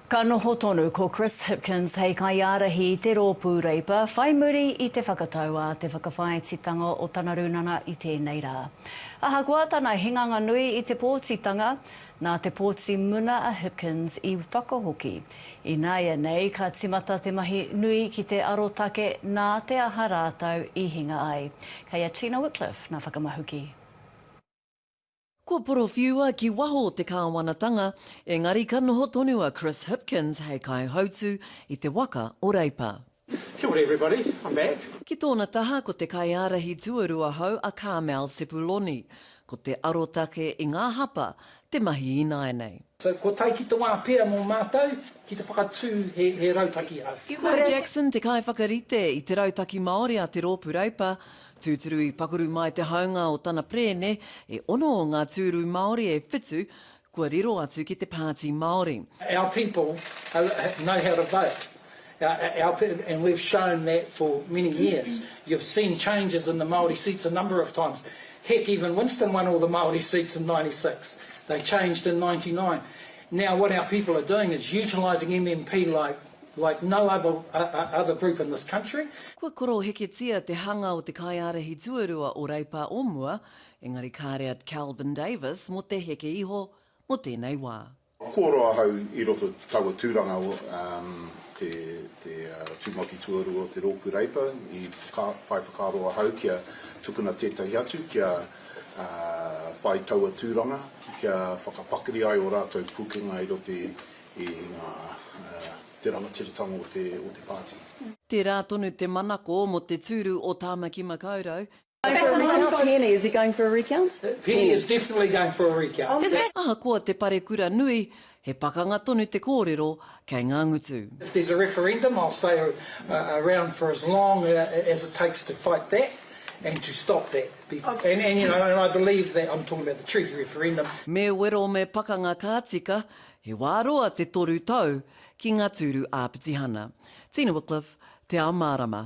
Ka noho tonu ko Chris Hipkins hei kaiārahi i te rōpū Reipa whai muri i te whakatau a te whakawhāititanga o tana rūnanga i tēnei rā. Ahakoa tana hinganga nui i te pōtitanga, nā te pōti muna a Hipkins i whakahoki. Ināianei ka tīmata te mahi nui ki te arotake nā te aha rātou i hinga ai. Kei a Tina Wickliffe ngā whakamahuki. Kua porowhiua ki waho o te kāwanatanga, engari ka noho tonu a Chris Hipkins hei kaihautū i te waka o Reipa. Kia ora everybody, I'm back. Ki tōna taha ko te kaiārahi tuarua hou a Carmel Sepuloni, ko te arotake i ngā hapa te mahi ināinei. So kua tae ki te wā pea mō mātou ki te whakatū he rautaki hou. Ko Jackson te kaiwhakarite i te Rautaki Māori a te Rōpū Reipa, Tūturu i pakuru mai te haunga o tana perēne, e ono o ngā tūru Māori e whitu kua riro atu ki te Pāti Māori. Our people know how to vote and we've shown that for many years. You've seen changes in the Māori seats a number of times. Heck, even Winston won all the Māori seats in ninety six. They changed in ninety nine. Now what our people are doing is utilising MMP like Like no other other group in this country. Kua koroheketia te hanga o te kaiārahi tuarua o Reipa o mua, engari kāre a Kelvin Davis mō te heke iho mō tēnei wā. Kua roa ahau i roto i taua tūranga, te tūmaki tuarua o te rōpū Reipa, i whai whakaaro ahau kia tukuna tētahi atu kia whai taua tūranga, kia whakapakari ai ō rātou pūkenga i roto i ngā, i te rangatiratanga o te, o te pāti. Tērā tonu te manako mō te tūru o Tāmaki Makaurau. Ahakoa te parekura nui, he pakanga tonu te kōrero kei ngā ngutu. Me wero me pakanga ka tika, He wā roa te toru tau ki ngā tūru ā-pitihana. Tina Wickliffe, Te Ao Mārama.